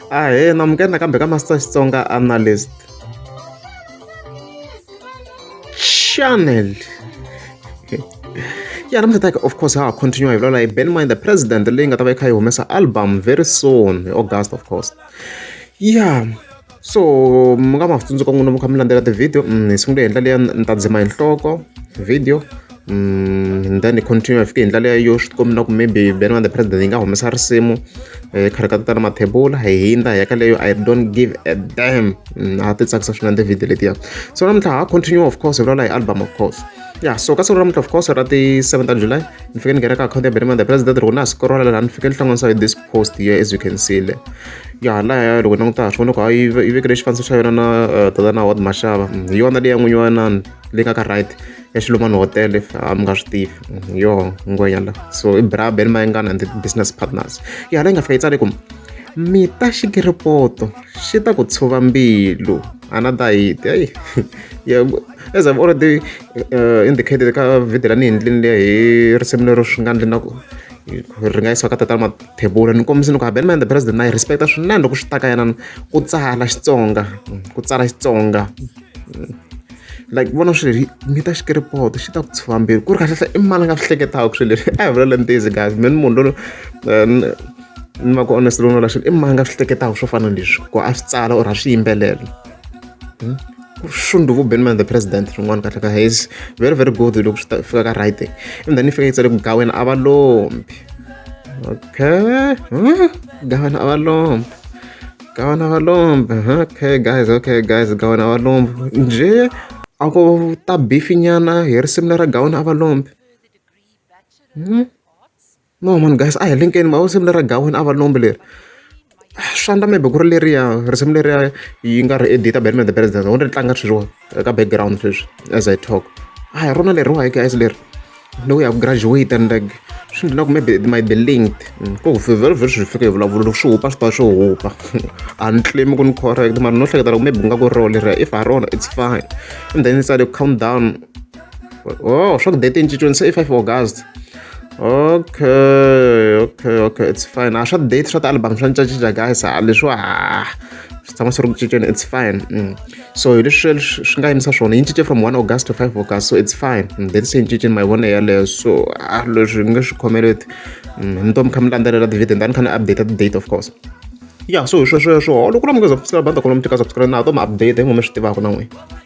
ahee namukela nakambe ka master xitsonga analyst channel ya namuntlha ta of course ha ha continue hi vulavula hi ben mind the president leyi nga ta va yi kha yi humesa album very soon hi august of course ya yeah. so mi nga ma tsundzuka n'wina mi kha mi landzela tivhidiyo hi sungule hi ndlela leyi ni ta dzima hi nhloko video and then hi continue hi fike hi ndlela yo swi tikombi na ku maybe benwana the president yi nga humesa risimu hi khari ka tatana mathebula hi hindza hi ya ka leyo i don't give a dam a ti tsakisa swinene tivhidiyo letiya so namuntlha ha continue of course hi vulavula hi album of course ya so ka siku namuntlha of course ra ti-seven ta july ni fike ni nghena ka akhawunti ya benwana the president ri ku na siku rolala laha ni fike ni hlanganisa hi this post here as you can see le ya halaya loko ni langutaka swona loko a yi yi vekele xifaniso xa yona na eh, tatana hot maxava mm, hi yona leyi ya n'winyi wa nani leyi nga ka right ya xilumani hotel if ah, mi nga swi tivi mm, yo ngwenya la so i brab ni mayengana and business partners ya hala yi nga fika yi tsale ku mita xikiripoto xi ta ku tshuva mbilu another hit eyi yeah, as i've already uh, indicated ka video la ni hi ndlini leya hi risimu lero swi nga ndli na ku ri nga yisiwa ka tatana Mathebula ni kombisa ni ku habanima and the president na yi respect-a swinene loko swi ta ka yena ku tsala Xitsonga ku tsala Xitsonga like vona swilo leswi mi ta xikiripoto xi ta ku tshuva mbilu ku ri kahlehla i mani a nga swi hleketaka swilo leswi a hi vula leni tizi guys mina munhu loyi eh, ni va ku honest loyi no la swilo i mani a nga swi hleketaka swo fana na leswi ku a swi tsala or a swi yimbelela hmm? shundu ku ben man the president rin'wana kahle ka hays very very good loko swi fika ka right and then ifika yi tsale ku gawena a va lombi okay huh? gawena a va lombi gawena a va lombi okay guys okay guys gawena a va lombi nje a ku ta bifinyana hi risimu lera gawena a va lombi hmm? No mani guys a hi linkeni ma vo risimu lera gaweni a va lombi leri swa ndla maybe ku ri leriya risimu leriya yi nga ri edita batman the president wo ri tlanga sweswiwa eka background sweswi as i talk a hi rona leriwa hi guys leri ni ku ya ku graduate and like swi ndla na ku maybe might be linked mm, ko vhele vhele swi fika hi vulavulo loko swi hupa swi ta swi hupa a ni claim ku ni correct mara no hleketa loko maybe ku nga ku ri rona leriya if ha rona it's fine and then ni tsale countdown oh swa ku date yi cinciwini se i five august okay okay okay it's fine a swa date swa ti-album swa cincacinca guys a leswiwa ha swi tshama swi ri ku cinceni it's fine mm. so hi leswi swi nga yimisa swona yi cince from one august to five august so it's fine mm. date se yi cinceni mavona yaleyo so a leswi nge swi khomeleti mm. ni to mi kha mi landzelela tivhideo ndani kha ni update ti-date of course ya so hi swesweswo loko na mungheza subscribe banda kona mi teka subscribe na to mi update hi ngo mi swi tivaka na n'wina